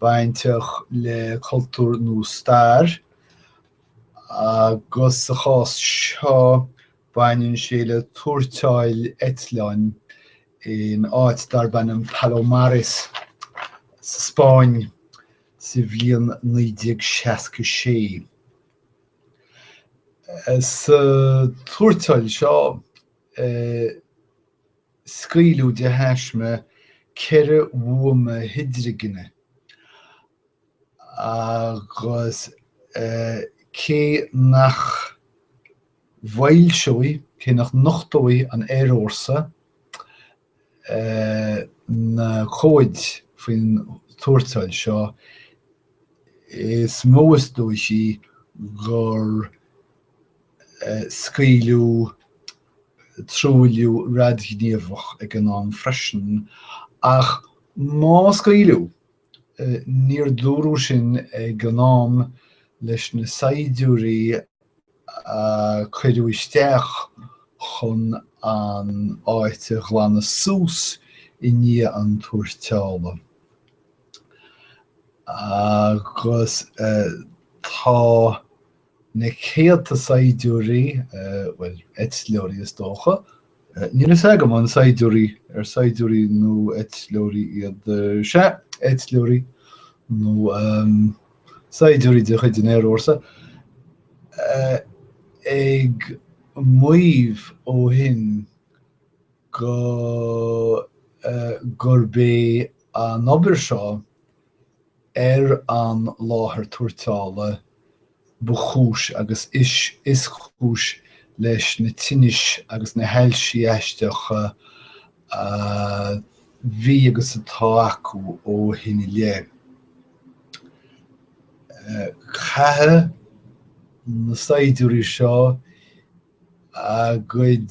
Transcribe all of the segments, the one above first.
bainteach le cultúr nó stair, agus sa chás seo baineann sé le tuairteáil eitleáin in áit darb ainm Palomares sa Spáinn sa bhliain 1966. Sa tuairteáil seo. scaoileadh de thaisme ceithre bhuama hidrigine agus cé nach bhfoilseoidh, cé nach nochtóidh an aerfhórsa na comhaid faoin tuairteáil seo, is mó is dóichí gur scaoileadh. truailliú radaighníomhach ag an am freisin, ach má scaoileadh, níor dúradh sin ag an am leis na saighdiúirí a cuireadh isteach chun an áit a ghlanadh suas i ndiaidh an tuairteála, agus tá. na céadta saighdiúirí, bhuel, eitleoirí is dócha, níl a fhios agam an saighdiúirí, ar saighdiúirí nó eitleoirí iad, sea, eitleoirí nó saighdiúirí de chuid an aerfhórsa, ag maíomh ó shin go, gurb é an obair seo ar an láthair tuairteála ba chúis agus is cúis leis na tinnis agus na hailsí aisteacha a bhí agus atá acu ó shin i leith. Caithfidh na saighdiúirí seo a gcuid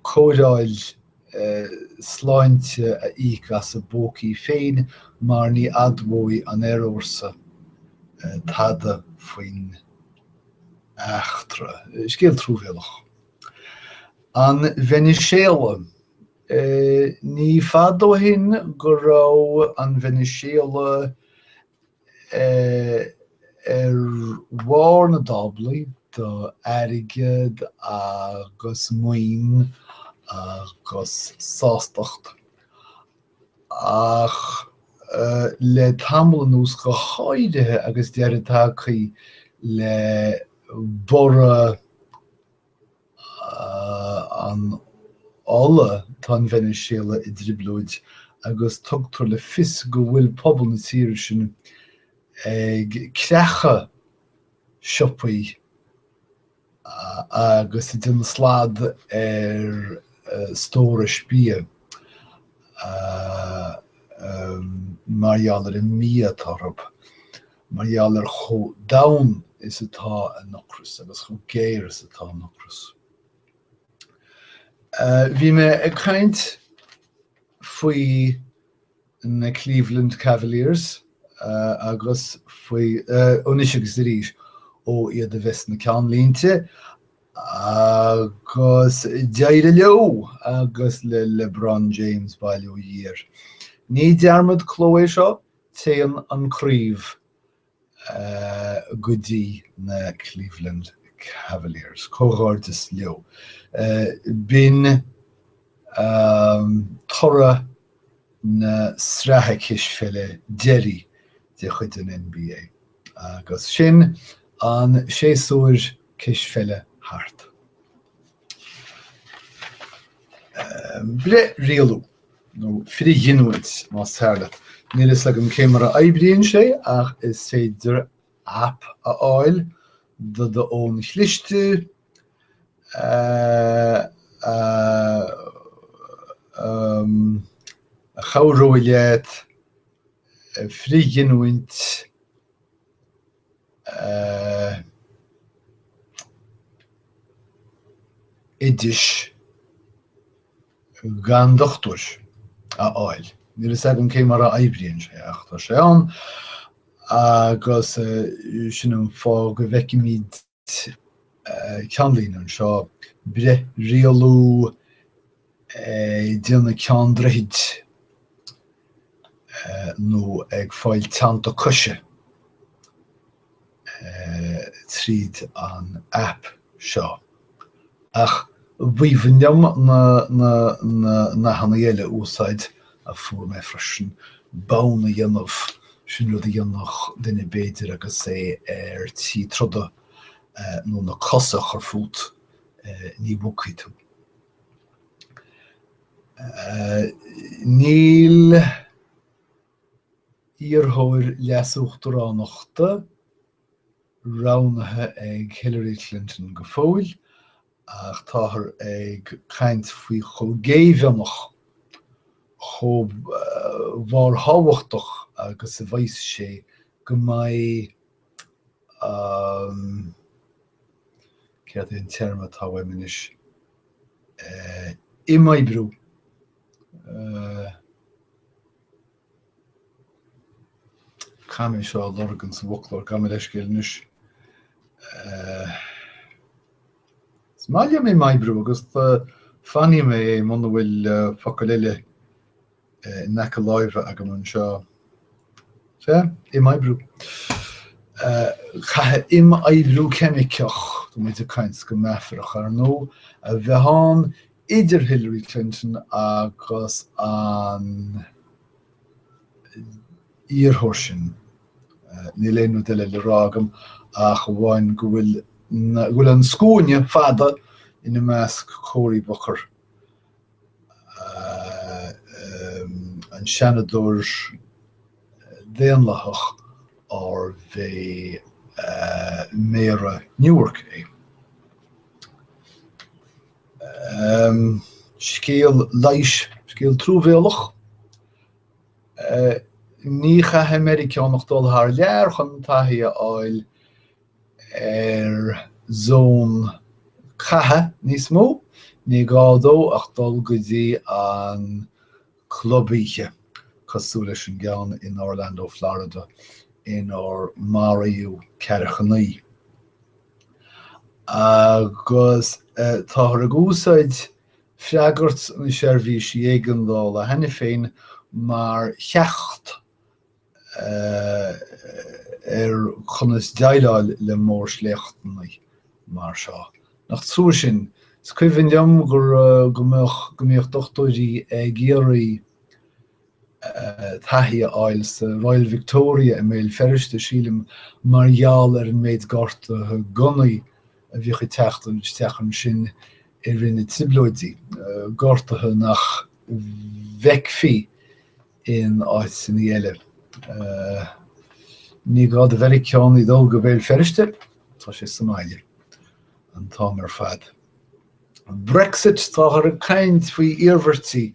cóireáil sláinte a íoc as a bpócaí féin mar ní admhóidh an aerfhórsa tada faoin eachtra. Scéal truamhéalach. An Veiniséala. Ní fada ó shin go raibh an Veiniséala ar bharr na dtáblaí do airgead agus maoin agus sástacht, ach le tamall anuas, go háirithe agus deireadh tagtha le borradh, an ola, tá an Veiniséala i dtrioblóid agus tugtar le fios go bhfuil pobal na tíre sin ag creachadh siopaí agus ag déanamh slad ar stórais bia mar gheall ar an mbia atá orthu. mar gheall ar chomh domhain is atá a n-ocras agus chomh géar is atá a n-ocras. Bhí mé ag caint faoi na Cleveland Cavaliers agus faoi, anois agus arís, ó iad a bheith sna ceannlínte, agus d'éirigh leo, agus le LeBron James, bail ó Dhia air. Ní dearmad cló é seo, Téann an craobh go dtí na Cleveland Cavaliers. Comhghairdeas leo. B'in toradh na sraithe cispheile deiridh de chuid an NBA agus sin an séasúr cispheile thart. breith-rialú, nó frithghiniúint más fearr leat. Níl a fhios agam cé mar a oibríonn sé ach is féidir app a fháil do do fhón chliste a chabhróidh leat frithghiniúint a oidis gan dochtúir a fháil. Níl a fhios agam cé mar a oibríonn sé ach tá sé ann agus sin an fáth go bhfeicimid ceannlíne anseo, breith-rialú ag déanamh ceann droichid nó ag fáil teannta coise tríd an aip seo. Ach ba mhian liom na nathanna eile a úsáid a fuair mé freisin, bonn a dhéanamh, sin rud a dhéanfadh duine b'fhéidir agus é ar tí troda nó na cosa a chur fút, ní bhogfaidh tú. Níl iarrthóir leas-uachtaránachta roghnaithe ag Hillary Clinton go fóill ach táthar ag caint faoi chomh géibheannach, chomh barrthábhachtach agus a bheas sé go mbeidh an, céard é an téarma atá uaim anois, imoibriú. Caithfidh mé é seo a lorg sa bhfoclóir, gabh mo leithscéal anois. Is maith liom imoibriú agus fágfaidh mé é muna bhfuil focal eile in aice láimhe agam anseo. Sea, imoibriú. Caithfidh imoibriú ceimiceach, tá muid ag caint go meafarach, ar ndóigh, a bheith ann idir Hillary Clinton agus an iarrthóir sin. Níl aon rud eile le rá agam ach amháin go bhfuil na, go bhfuil an scuaine fada ina measc Cory Booker, an Seanadóir Daonlathach arbh é Méara Newark é. Scéal leighis, scéal truamhéalach. Ní chaithfidh Meiriceánach dul thar lear chun taithí a fháil ar zón catha níos mó. Ní gá dó ach dul go dtí club oíche cosúil leis an gceann in Orlando Florida inar maraíodh ceathracha naoi. agus táthar ag úsáid freagairt na seirbhísí éigeandála cheana féin mar cheacht ar chonas déileáil le mórshléachtanna mar seo. Nach trua sin? Is cuimhin liom go mbíodh dochtúirí ag iarraidh. taithí a fháil sa Royal Victoria i mBéal Feirste, sílim, mar gheall ar an méid gortuithe gunnaí a bhíodh ag teacht isteach ansin i rith na dTrioblóidí, gortuithe nach bhfeicfí in áiteanna eile. Ní gá do Mheiriceánaigh dul go Béal Feirste, tá sé sa mbaile an t-am ar fad. Brexit Táthar ag caint faoi iarmhairtí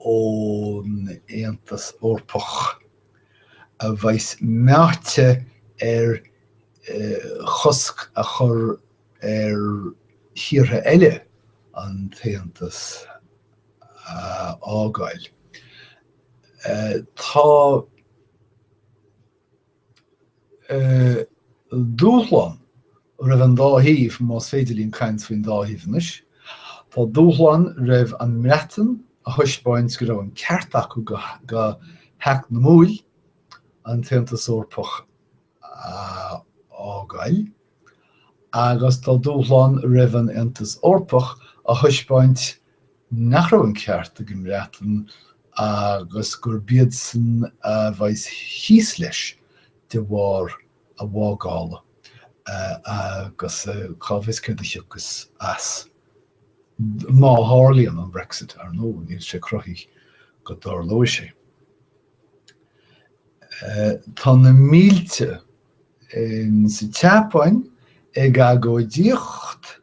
ón Aontas Eorpach, a bheas meáite ar chosc a chur ar thíortha eile an tAontas a fhágáil. Tá. Dúshlán roimh an dá thaobh, más féidir linn caint faoin dá thaobh anois. Tá dúshlán roimh an mBreatain a thaispeáint go raibh an ceart acu go heacnamúil an tAontas Eorpach a fhágáil, Agus tá dúshlán roimh an Aontas Eorpach a thaispeáint nach raibh an ceart ag an mBreatain agus gurb iadsan a bheidh thíos leis de bharr a bhfágála, agus a cá bhfios céard a thiocfas as. Má tharlaíonn an Brexit, ar ndóigh, níl sé cruthaithe go dtarlóidh sé. Tá na mílte in sa tSeapáin ag agóidíocht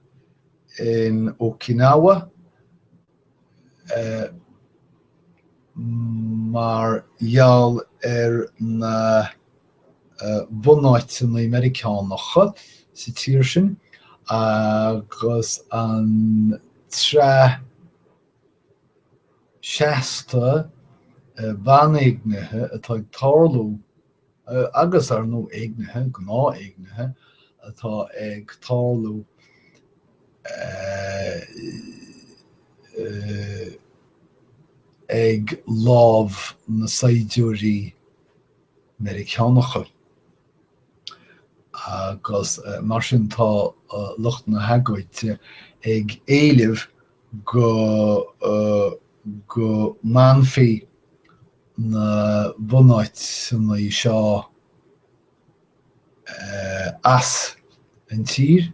in Okinawa mar gheall ar na bunáiteanna Meiriceánacha sa tír sin agus an tsraith seasta banéignithe atá ag tarlú. agus ar nó éignithe, gnáth-éignithe, atá ag tarlú ag lámh na saighdiúirí Meiriceánacha agus mar sin tá lucht na hagóide ag éileamh go go mbainfí na bunáiteanna seo as an tír,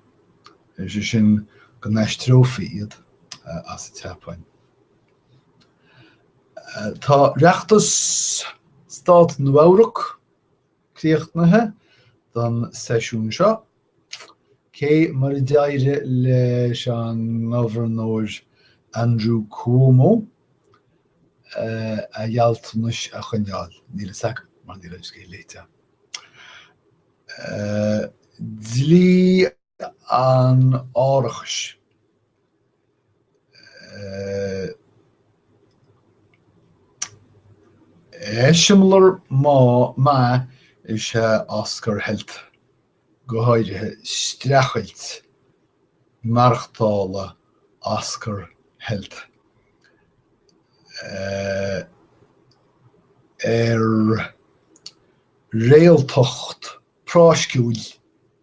is é sin go n-aistreofaí iad as an tSeapáin. Tá reachtas stát Nua-Eabhrac. críochnaithe don seisiún seo. Cé mar a d'éirigh leis an Gobharnóir Andrew Cuomo a ghealltanais a choinneáil? Níl fhios agam, mar níl an scéal léite. Dlí an árachais eiseamlair maith maith is ea Oscar Health, go háirithe streachailt maireachtála Oscar Health ar réaltacht práisciúil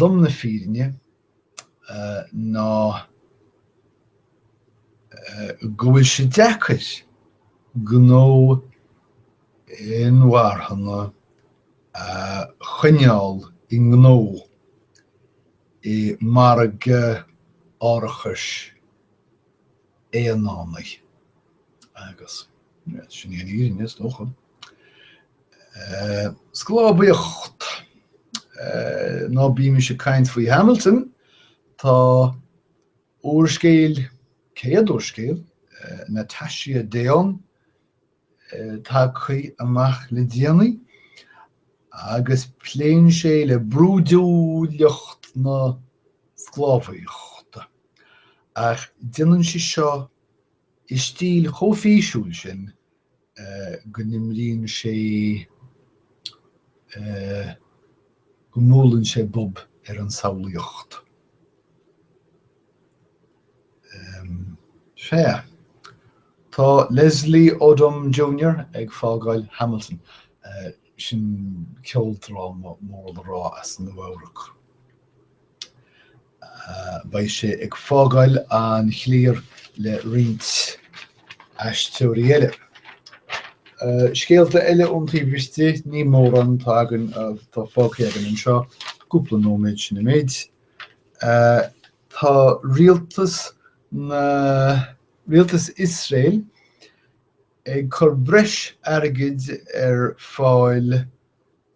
Lom na fírinne ná go bhfuil sé deacair gnó inmharthana a choinneáil i ngnó i margadh árachais aonaraigh agus sin í an fhírinne, is dócha. Sclábhaíocht, Ná bímis ag caint faoi Hamilton, tá úrscéal, céad úrscéal, Natasha Deon tagtha amach le déanaí agus pléann sé le brúidiúlacht na sclábhaíochta ach déanann sí seo i stíl chomh físiúil sin go n-imríonn sé. go mbuaileann sé bob ar an tsamhlaíocht. Sea. Tá Leslie Odom Junior ag fágáil Hamilton. Sin ceoldráma mór le rá as Nua-Eabhrac. Beidh sé ag fágáil an chliar le roinnt aisteoirí eile. Scéalta eile ón taobh istigh, ní mórán atá againn, atá fágtha againn anseo, cúpla nóiméad, sin an méid. Tá rialtas na, rialtas Iosrael ag cur breis airgid ar fáil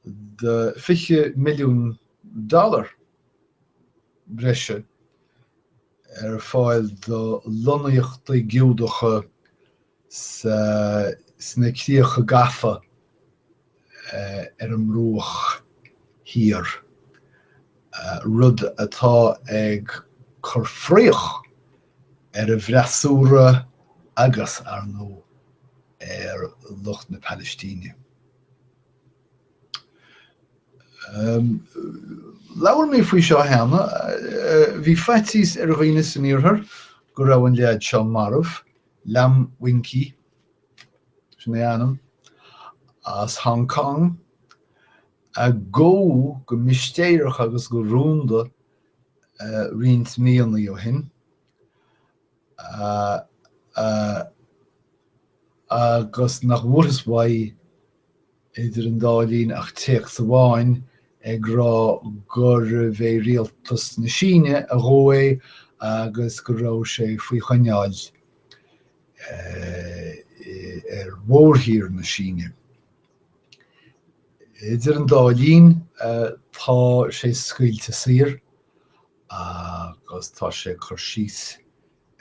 do, fiche milliún dollar, breise ar fáil do lonnaíochtaí Giúdacha sna críocha gafa ar an mBruach Thiar, rud atá ag cur fraoch ar an bhfreasúra agus, ar ndóigh, ar lucht na Palaistíne. Labhair mé faoi seo cheana. Bhí faitíos ar dhaoine san iarthar go raibh an leaid seo marbh, Lam Wing Kee, sin é a ainm, as Hong Cong, a gabhadh go mistéireach agus go rúnda roinnt míonnaí ó shin. agus nach bhfuarthas uaidh idir an dá linn ach téacs amháin ag rá gurbh é rialtas na Síne a ghabh é agus go raibh sé faoi choinneáil ar mhórthír na Síne. Idir an dá linn, tá sé scaoilte saor, agus tá sé ag cur síos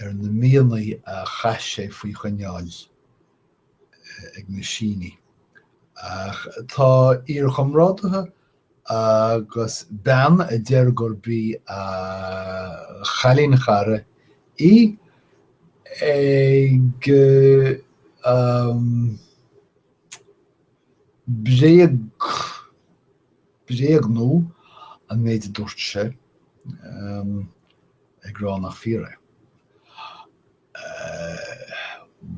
ar na míonna a chaith sé faoi choinneáil ag na Sínigh. Ach tá iarchomrádaithe agus bean a deir gurb í a chailín chara í ag bréagadh bréagnú an méid a dúirt sé, ag rá nach fíor é.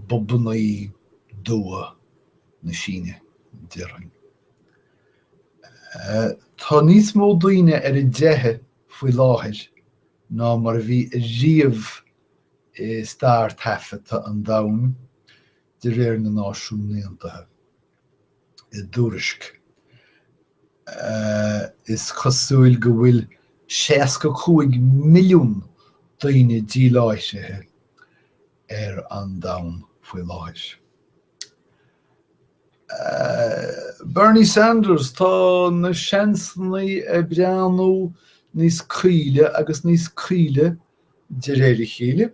Bobanna dubha na Síne, déarfainn. Tá níos mó daoine ar a dteitheadh faoi láthair ná mar a bhí riamh i stair taifeadta an domhain, de réir na Náisiún Aontaithe. i dtuairisc. Is cosúil go bhfuil 65 milliún daoine díláithrithe ar an domhan faoi láthair. Bernie Sanders, Tá na seansanna ag breathnú níos caoile agus níos caoile de réir a chéile.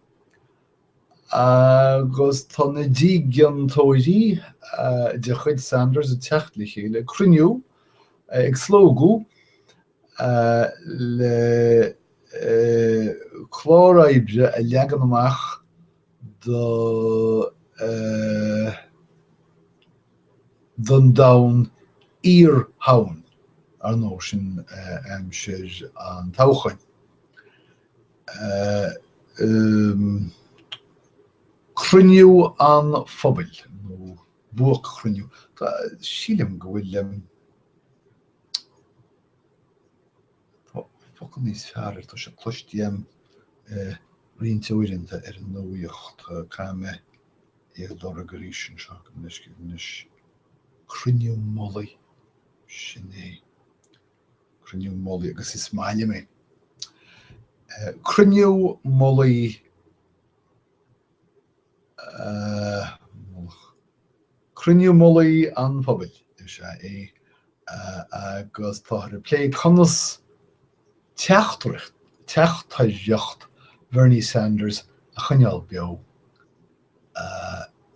Agus tá na dígeantóirí de chuid Sanders ag teacht le chéile ag cruinniú, ag slógadh le clár oibre a leagan amach don domhan iar-thoghcháin, ar ndóigh, sin i ndiaidh an toghcháin. ii, Cruinniú an Phobail nó buaicchruinniú, sílim go bhfuil focal níos fearr air, tá sé cloiste agam roinnt uaireanta ar an nuaíocht, caithfidh mé é a lorg arís anseo le go bhfeice mé anois, cruinniú mullaigh, sin é. Cruinniú Mullaigh agus is maith liom é. Cruinniú Mullaigh, eh. Cruinniú Mullaigh an Phobail is ea é agus táthar ag plé conas teacht teachtaireacht Bhernie Sanders a choinneáil beo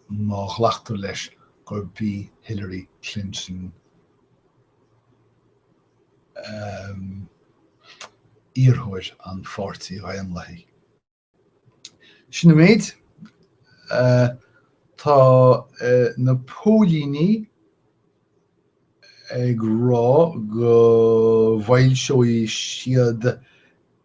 má ghlactar leis gurb í Hillary Clinton a iarrthóir an Pháirtí Dhaonlathaigh. Sin an méid. Tá na póilíní ag rá go bhfoilseoidh siad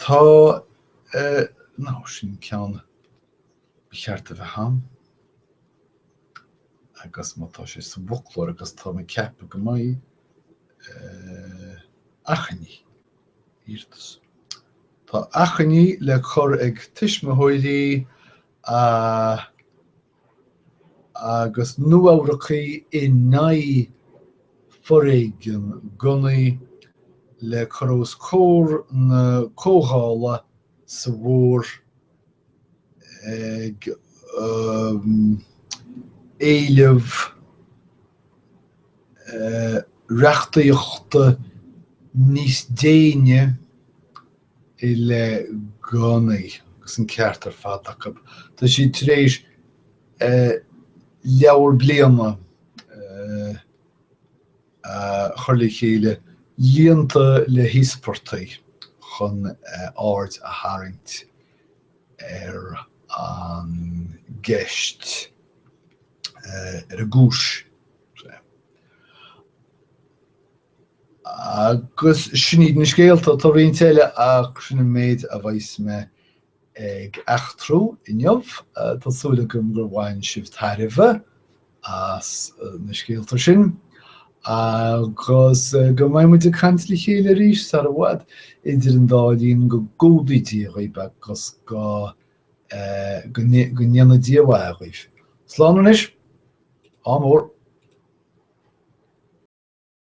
Tá, nó sin ceann ba cheart a bheith ann, agus má tá sé sa bhfoclóir, agus tá mé ag ceapadh go mbeidh, achainí, iarratas. Tá achainí le cur ag tuismitheoirí a. agus Nua-Eabhracaigh in aghaidh foréigean gunnaí le cur os comhair na comhdhála sa bhfómhar ag éileamh reachtaíochta níos déine, i leith gunnaí agus an ceart ar fad acu. Tá siad tar éis leabhar bliana a chur le chéile líonta le híospartaigh chun aird a tharraingt ar an gceist, ar an gcúis. Agus sin iad na scéalta. Tá roinnt eile ach sin an méid a bheas mé ag eachtrú inniu. Tá súil agam gur bhain sibh tairbhe as na scéalta sin agus go mbeidh muid ag caint le chéile arís sar i bhfad. Idir an dá linn go gcumhdaí Dia dhaoibh agus go go ndéana Dia a mhaith dhaoibh. Slán anois. Ádh mór.